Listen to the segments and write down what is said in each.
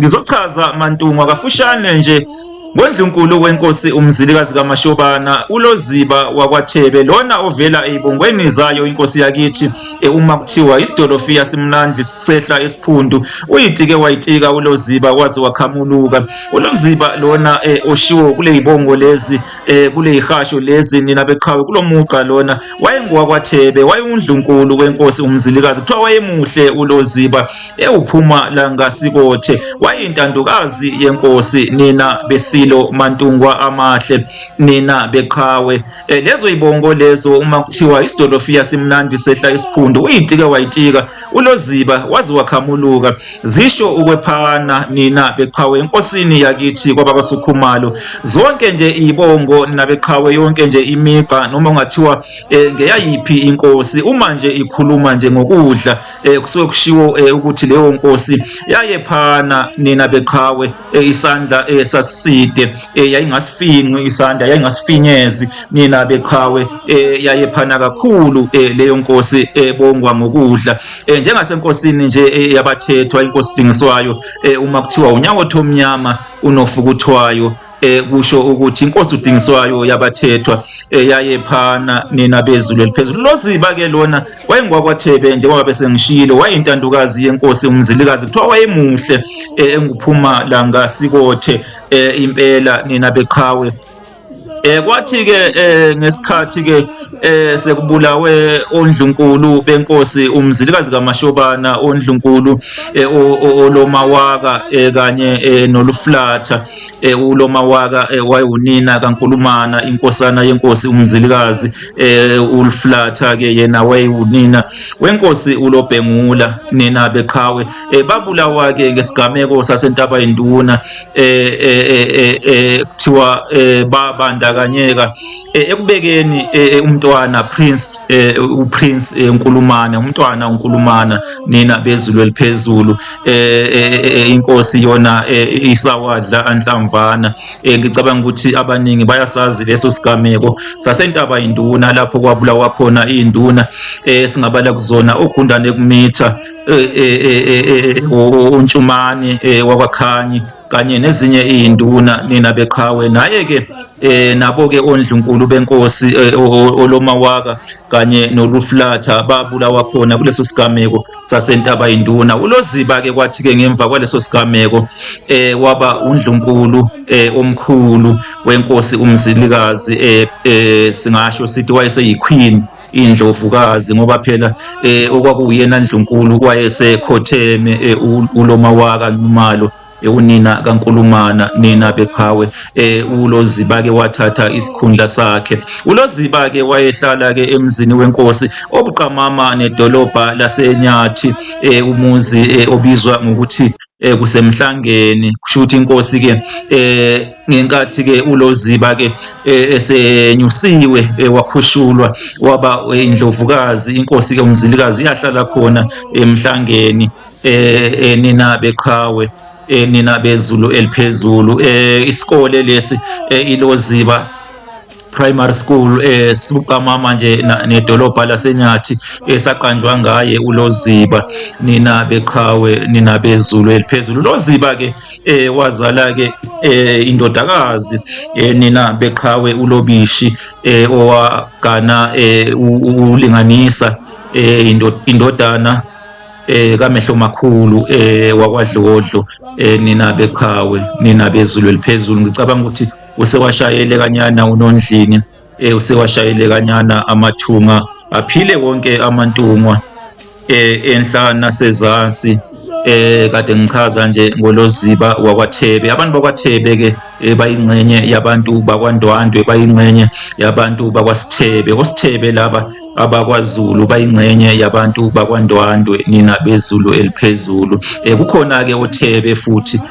Ngizochaza Mantungwa kafushane nje ngoNdlunkulu wenkosi uMzilikazi kaMashobana uLoziba wakwaThebe lona ovela eyibongweni zayo inkosi yakithi e, uma kuthiwa isidolofiya simnandli sehla esiphundu uyitike wayitika uLoziba waze wakhamuluka uLoziba lona e, oshiwo kule yibongo lezi e, kule yihasho lezi nina beqhawe kulomugqa lona wayengowakwaThebe wayewundlunkulu wenkosi uMzilikazi kuthiwa wayemuhle uLoziba ewuphuma langasikothe wayintandokazi yenkosi nina besilo mantungwa amahle nina beqhawe e, lezo ibongo lezo uma kuthiwa isidolofiya simnandi sehla isiphundu uyitika wayitika uloziba waze wakhamuluka zisho ukwephana nina beqhawe enkosini yakithi kwabakasukhumalo zonke nje ibongo nina beqhawe yonke nje imigqa noma ungathiwa e, ngeyayiphi inkosi uma nje ikhuluma nje ngokudla eh kusuke kushiwo eh, ukuthi leyo nkosi yayephana nina beqhawe eh, isandla eh, saside eh, yayingasifinqi isandla yayingasifinyezi nina beqhawe eh, yayephana kakhulu eh, leyo nkosi ebongwa eh, ngokudla eh, njengasenkosini nje eh, yabathethwa inkosi dingiswayo eh, uma kuthiwa unyawo thomnyama unofukuthwayo eh kusho ukuthi inkosi udingiswayo yabathethwa eyayephana eh, nina bezulu eliphezulu loziba ke lona wayengwakwathebe njengoba bese ngishilo wayintandukazi yenkosi umzilikazi kuthiwa wayemuhle eh, enguphuma la ngasikothe eh, impela nina beqhawe Eh kwathi ke eh ngesikhathi ke eh sekubulawe ondlunkulu benkosi umzilikazi kaMashobana ondlunkulu eh, olomawaka eh, kanye eh, noluflatha eh, uLomawaka eh, wayewunina kaNkulumana inkosana yenkosi uMzilikazi eh, uLflatha ke yena wayewunina wenkosi uLobhengula nina beqhawe eh, babulawa ke ngesigameko sasentaba yinduna eh, eh, eh, eh, kuthiwa eh, babandakanyeka eh, ekubekeni eh, umntwana Prince eh uPrince eh, Nkulumane umntwana uNkulumana nina bezulu eliphezulu eh, eh, eh inkosi yona eh, isawadla anhlamvana eh, ngicabanga ukuthi abaningi bayasazi leso sigameko sasentaba induna lapho kwabulawa khona induna eh singabala kuzona ogundane kumitha eh, eh, eh, eh, eh, uNtshumane eh, wakwaKhanyi kanye nezinye iy'nduna nina beqhawe naye-ke eh nabo ke ondlunkulu benkosi eh, olomawaka kanye noluflatha babulawa khona kuleso sigameko sasentaba induna uloziba ke kwathi ke ngemva kwaleso sigameko eh waba undlunkulu eh omkhulu wenkosi umzilikazi eh, eh singasho sithi wayeseyiqueen indlovukazi ngoba phela eh okwakuyena ndlunkulu wayesekhotheme eh, uloma waka Nxumalo ekunina eh, kaNkulumana nina beqhawe eh uLoziba ke wathatha isikhundla sakhe uLoziba ke wayehlala ke emzini wenkosi obuqamama nedolobha laseNyathi eh umuzi eh, obizwa ngokuthi eh kusemhlangeni kusho ukuthi inkosi ke eh ngenkathi ke uloziba ke eh, esenyusiwe eh, wakhushulwa waba eh, indlovukazi inkosi ke umzilikazi iyahlala khona emhlangeni eh nina beqhawe nina bezulu eliphezulu eh isikole lesi iloziba primary school eh sibuqamama nje nedolobha lasenyathi esaqanjwa eh, ngaye uloziba nina beqhawe nina bezulu eliphezulu loziba ke eh wazala ke eh indodakazi eh nina beqhawe ulobishi eh owagana eh ulinganisa eh indodana eh kamehlo makhulu eh wakwadlodlo eh nina beqhawe nina bezulu eliphezulu ngicabanga ukuthi usewashayele kanyana unondlini eh usewashayele kanyana amathunga aphile wonke amantungwa eh enhla nasezansi eh kade ngichaza nje ngoloziba wakwaThebe abantu bakwaThebe ke eh, bayingxenye yabantu bakwaNdwandwe bayingxenye yabantu bakwaSithebe oSithebe laba abakwaZulu bayingxenye yabantu bakwaNdwandwe nina bezulu eliphezulu eh kukhona ke oThebe futhi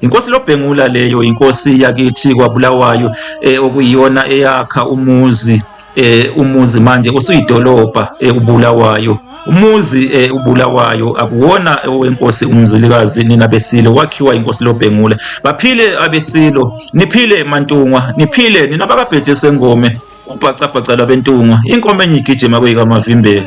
Inkosi lobhengula leyo inkosi yakithi kwaBulawayo eh, okuyiyona eyakha umuzi eh, umuzi manje usuyidolobha eh, uBulawayo umuzi eh, uBulawayo akuwona owenkosi umzilikazi nina besilo wakhiwa inkosi lobhengula baphile abesilo niphile mantungwa niphile nina bakabheje sengome ubhacabhaca labentungwa inkomo enye igijima kuyikamavimbela